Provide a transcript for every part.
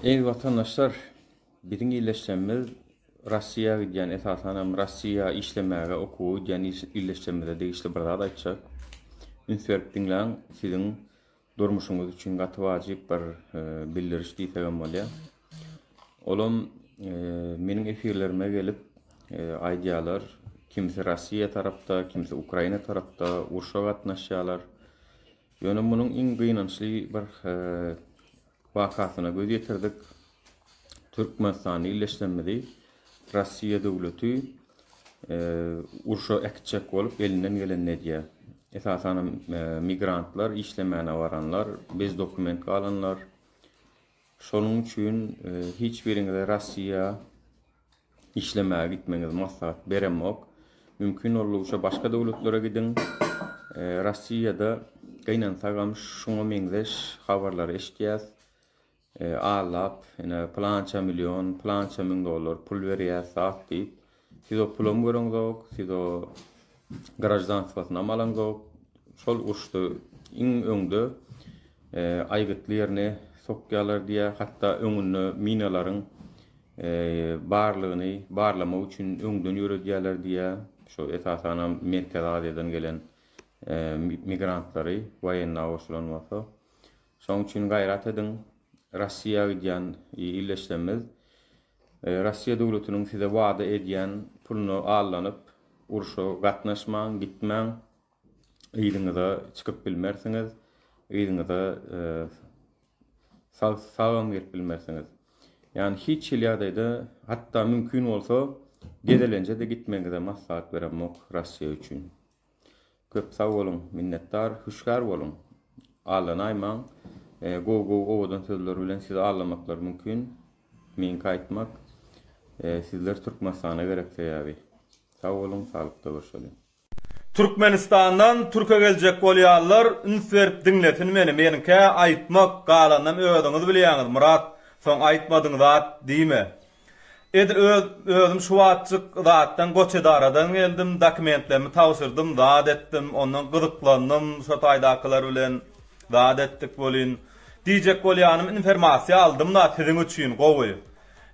Eziz watandaşlar biziň illeşjemiz Rossiýa gidýän esasanam Rossiýa işlemäge okuwa gidýän illeşjemize degişli bir zat aýtjak. Üns berip diňläň siziň durmuşyňyz üçin gaty wajyp bir e, bildiriş diýsegem bolýar. Olam e, meniň efirlerime gelip e, aýdýarlar kimisi Rossiýa tarapda, kimisi Ukraina tarapda urşa gatnaşýarlar. Ýöne munuň iň gynançly bir wakasyna göz ýetirdik. Türkmenistanda illeşsemizi Rossiýa döwleti urşa äkitjek bolup elinden gelenini edýär. Esasanam migrantlar, işlemäne baranlar, bez dokument galanlar. Şonuň üçin hiç biriňize Rossiýa işlemäge gitmegiňizi maslahat beremok. Mümkin boldugyça başga döwletlere gidiň. Rossiýada gynansagam şuňa meňzeş habarlary eşitýäs. Allap, ine plança million, plança müň dollar pul berýäs, zat diýip. Siz o pulam göreňzok, siz o graždanstvosynam alanzok. Şol uruşda iň öňde aýgytly ýerine sokýarlar diýýär. Hatda öňünde minalaryň barlygyny barlamak üçin öňden ýöredýärler diýýär. Şo esasanam Merkezi Aziýadan gelen migrantlary woýenna goşulan bolsa. Şoň üçin gaýrat ediň. Russiýa gidýän ildeşlerimiz Rossiýa döwletiniň size wada edýän puluna allanyp, urşa gatnaşmaň, gitmäň. Yzyňyza çykyp bilmersiňiz, yzyňyza sag sagam gelip bilmersiňiz. Ýagny hiç hili ýagdaýda, hatda mümkin bolsa, gezelenje-de gitmegiňize maslahat beremok Rossiýa üçin. Köp sag boluň, minnetdar, hüşgär boluň. Allanaýmaň, gowy gowy owadan sözler bilen sizi allamaklar mümkin. Meňki aýtmak, sizler Türkmenistana gerek sebäbi. Sag boluň, saglykda görşeliň. Türkmenistandan türke geljek bolýanlar üns berip diňlesin meni menikä aýtmak galanynam özüňiz bilýäňiz Myrat soň aýtmadyň zat diýme. Edil öz özüm şu wagtjyk zatdan Goçedaradan geldim, dokumentlerimi tabşyrdym, zat etdim, ondan gyzyklandym, şo taýdakylar bilen zat etdik welin, diýjek bolýanym infermasiýa aldym-da siziň üçin gowy.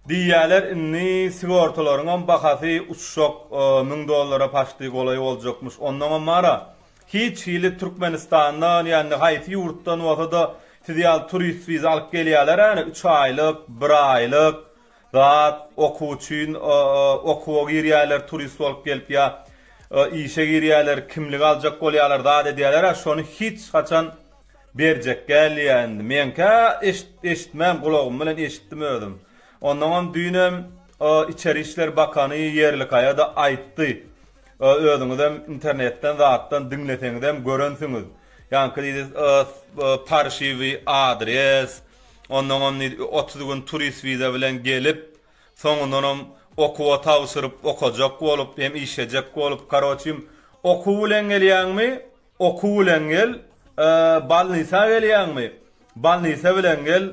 Diýýäler indi sigortalaryňam bahasy uçjak, müň dollara paçti golaý boljakmyş, ondaňam bar-a, Hiç hili Türkmenistandan ýa-ni haýsy ýurtdan bolsa-da siz ýaly turist wiza alyp gelýärler-ä-ni, üç aýlyk, bir aýlyk zat, okuw üçin, o-o-okuwa girýärler turist bolup gelip ýa işe girýärler, kimlik aljak bolýarlar, zat edýärler-ä, şony hiç haçan berjek gälýä-indi. Meňkä eşit-eşitmän, gulagym bilen eşitdim özüm. Onnoňam düýnem o içeri işler bakany Ýerlikaýa-da aýtdy. Özüňizem internetden zatdan diňleseňizem görensiňiz. Ýaňky diýdi parşiwi adres, ondan on otuz gün turist wiza bilen gelip, soňundanam okuwa tabşyryp, okajak bolup, hem işlejek bolup, karoçim, okuw bilen gelýäňmi, Okuw bilen gel, balnisa gelýäňmi? Balnisa bilen gel,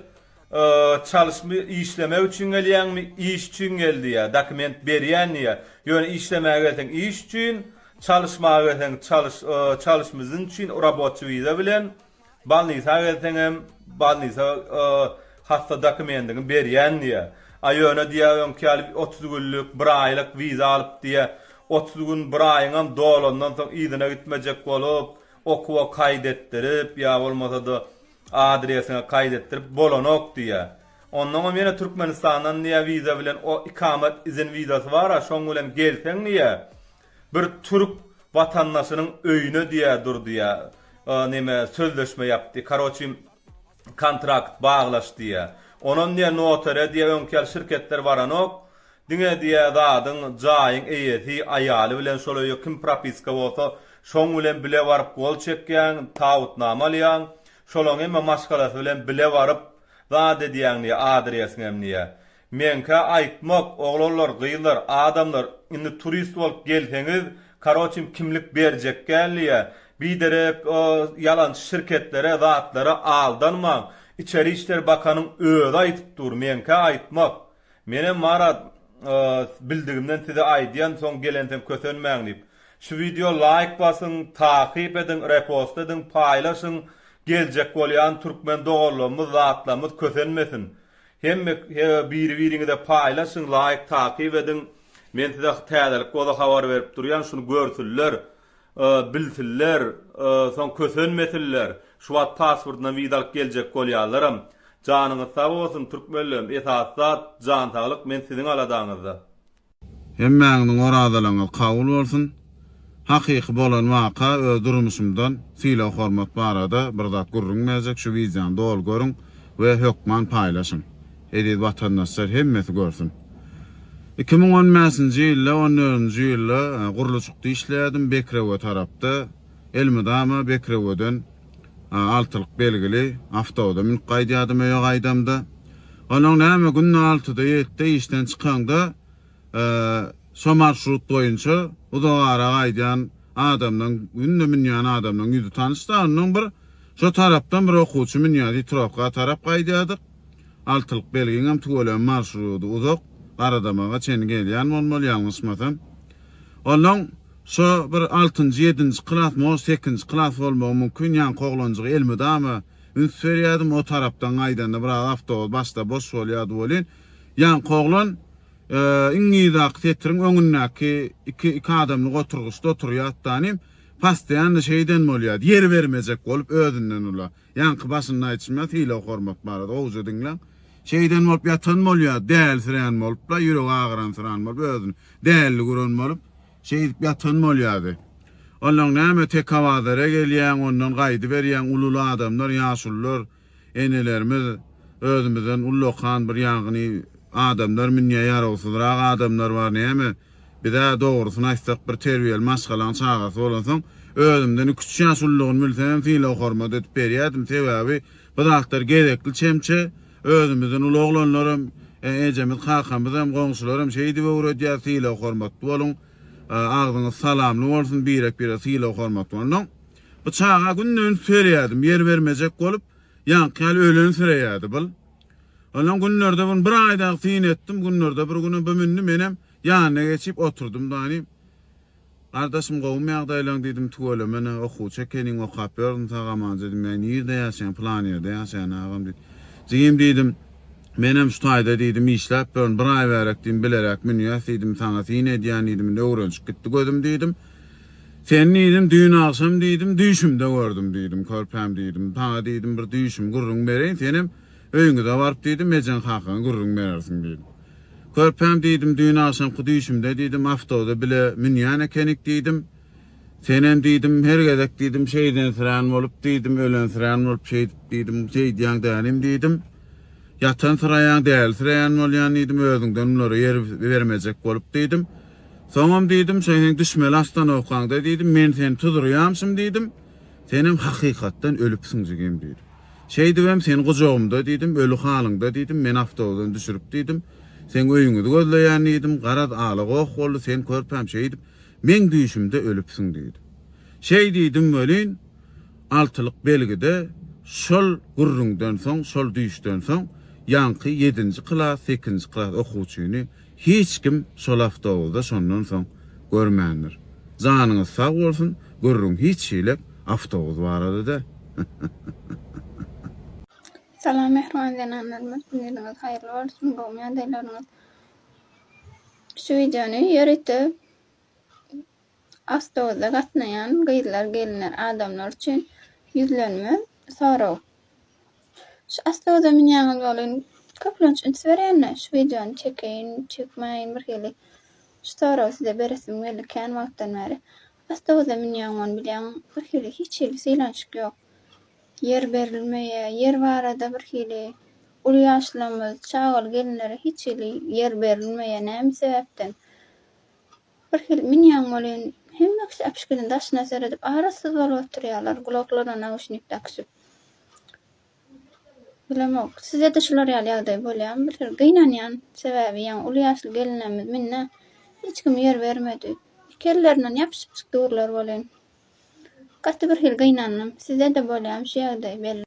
çalyşmy, işlemek üçin gelýäňmi? Iş üçin gel diýýär, dokument berýän diýýär. Ýöne işlemäge gelseň iş üçin, çalyşmaga gelseň çalyş, çalyşmy zn üçin, rabotçy wiza bilen. Balnisa gelseňem balnisa hassa dokumendiňi berýän diýýär. A ýöne diýýär öňki ýaly otuz günlük, bir aýlyk wiza alyp diýýär. Otuz gün, bir aýyňam dolandan soň yzyna gitmejek bolup, okuwa kaýt etdirip ýa bolmasa-da adresiňe kaýt etdirip bolanok diýýär. Onnoňam ýene Türkmenistandan diýýär wiza bilen o ikamet izin wizasy bar-a şoň bilen gelseň diýýär Bir türk watandaşynyň öýüne diýä durdy ýa neme sözleşme ýapdy karoçi kontrakt baglaş diýä onam diýä notere diýä öňki ýaly şirketler baranok diňe diýä zadyň jaýyň eýesi aýaly bilen şol öýe kim propiska bolsa şoň bilen bile baryp gol çekýäň tabutnama alýaň şolaň hemme maşgalasy bilen bile baryp zat edýäň diýä adresiňem diýä Meňkä aýtmak oglanlar gyzlar adamlar indi turist bolup gelseňiz karoçim kimlik berjek däldiýä biderek o ýalançy şirketlere zatlara aldanmaň içeri işler bakanyň özi aýtyp dur meňkä aýtmak menem marat bildigimden size aýdýan soň gelenseň kösenmäň diýip şu wideo laýk basyň takyp ediň repost ediň paýlaşyň geljek bolýan türkmen doganlarymyz zatlarymyz kösenmesin Hemme hebe biri biriňize paýlaşyň laýk takyp ediň men size täzelik boza habar berip durýan şuny görsünler bilsinler soň kösenmesinler şu wagt pasportyndan wiza alyp geljek bolýanlaram janyňyz sag bolsun türkmenlerim esasy zat jan saglyk men siziň aladaňyzda. Hemmäňiziň orazalaryňyz kabul bolsun. Hakyky bolan waka öz durmuşymdan sylag hormat barada bir zat gürrüň berjek şu wideony doly görüň we hökman paýlaşyň. Eziz watandaşlar hemmesi görsün. Iki müň on bäşinji ýylda on dördünji ýylda gurluşykda işleýärdim Bekrewe tarapda elmydama Bekreweden A altylyk belgili awtobusa münüp gaýdýardym öýe gaýdamda. Onuň näme günde altyda ýetde işden çykaňda şo marşrut boýunça uzak ara gaýdýan adamlaň günde münýän adamlaň ýüzi tanyşda onnoň bir şo tarapdan bir okuwçy münýär diýip trowka tarap gaýdýardyk. Altylyk belgiňem tüweleme marşrudy uzak garadamaga çenli gelýän bolmaly ýalňyşmasam. Onuň Şo bir altynjy, ýedinji klas, mož sekinji klas bolmagy mümkin, ýaňky oglanjyga elmydama üns berýärdim, o tarapdan gaýdanda biraz awtobus başda boş bolýardy welin, ýaňky oglan iň yzdaky setiriň öňündäki iki iki adamlyk oturgyçda oturýardy-da, nim, postoýanno şeýden bolýardy, ýer bermejek bolup özünden ula. Ýaňky başynda aýtşym ýa sylag hormat barada gowja diňläň. Şeýden bolup ýatan bolýa dälsirän bolupla ýüregi agyranysyran bolup özüni dälli gören bolup şeýdip ýatan bolýady. Onnoň näme tekabazara gelýäň ondan gaýdyberýäň ululy adamlar ýaşulylar enelerimiz özümizden ullakan bir ýaňyny adamlar münýä ýarawsyzrak adamlar bar näme Biz-ä, dogrusyny aýtsak, bir terbiýeli maşgalaň çagasy bolansoň, özümden iki-üç ýaş ullagyny bilsemem sylag-hormat edip berýärdim. Sebäbi bu zatlar gezekli çemçe. Özümizden uly oglanlaram, ejemiz, kakamyzam, goňşularam şeýdip öwredýär, sylag-hormatly boluň, agzyňyz salamly bolsun, birek-birege sylag-hormatly bolnaň. Bu çaga günde üns berýärdim, ýer bermejek bolup, ýaňky ýaly ölensirä-ýärdi. Bil, Ondan günlerde bir bir aýda syn etdim, günlerde bir günem bu mündi, menem ýanyna geçip oturdym dany. Gardaşym gowumy ýagdaýlaň diýdim, tüweleme-ne, okuwçy ekeniň, okap ýörün sag aman diýdim, ýa nirde ýaşaýaň, pylan ýerde ýaşaýan agam diýdi. Jigim diýdim, menem şu taýda diýdim, işläp ýörün, bir aý bärek diýdim, bileräk münýäs diýdim, saňa syn edýän diýdim, indi öwrenşip gitdi gözüm diýdim. Sen diýdim, düýn agşam diýdim, düýşümde gördüm diýdim, körpäm diýdim. Saňa diýdim, bir düýşüm, gürrüň bereýin, senem öýüňize baryp diýdim, ejeň hakaň gürrüň berersiň diýdim. Körpäm diýdim, düýn agşamky düýşümde diýdim, awtoda bile münýän ekenik diýdim. Senem diýdim, her gezek diýdim, şeýdensirän bolup diýdim, ölensirän bolup şeýdip diýdim, şeýdýäň dälim diýdim. Ýatansyraýaň, dälisireýän bolýan diýdim, özüňden bulara ýer bermejek bolup diýdim. Soňam diýdim, Sen heň düşmeli ostanowkaňda diýdim, men seni tuzurýamşym diýdim, Senem hakykatdan ölüpsiň jigim diýdim. Şeýdibem sen gujagymda diýdim, öli halyňda diýdim, meni awtobusdan düşürip diýdim, Seň öýüňizi gözleýän diýdim, garaz ala-goh boldy, sen körpäm şeýdip, meň düýşümde ölüpsiň diýdim. Şeý diýdim welin, altylyk belgide şol gürrüňden soň, şol düýşden soň ýaňky ýedinji klas, sekizinji klas okuwçyny hiç kim şol awtobuzy-da şondan soň görmändir. Janyňyz sag bolsun, gürrüň hiç şeýlek awtobus barada däl. Salam mähriban zenanlarymyz gününiz haýyrly bolsun gowy ýagdaýlaryňyz şu wideony ýöritip Awtobusda gatnaýan gyzlar, gelinler, adamlar üçin ýüzlenme, sorag. Şu awtobusa münýäňiz welin, köplenç üns berýän-de, şu wideony çekeýin, çekmäýin, bir hili şu soragy size beresim geldi kän wagtdan bäri. Awtobusa münýäň welin, bilýäň, bir hili hiç hili sylanyşyk ýok. Ýer berilmeýä, ýer barada bir hili uly ýaşlarymyz, çagaly gelinlere hiç hili ýer berilmeýä, näme sebäpden? Bir hili münýäň welin, hemmesi äpişginiň daşyna seredip, arassuz bolup oturýarlar, gulaklaryna nauşnik dakyşyp. Bilemok, size-de şular ýaly ýagdaý bolýarmy? Bir hili gynanýan, sebäbi ýaňy uly ýaşly gelinlerimiz mende hiç kim ýer bermedi. Iki ellerinden ýapyşyp çykdy gürler welin. Gaty bir hili gynandym. Size-de bolýarmy şu ýagdaý, belli.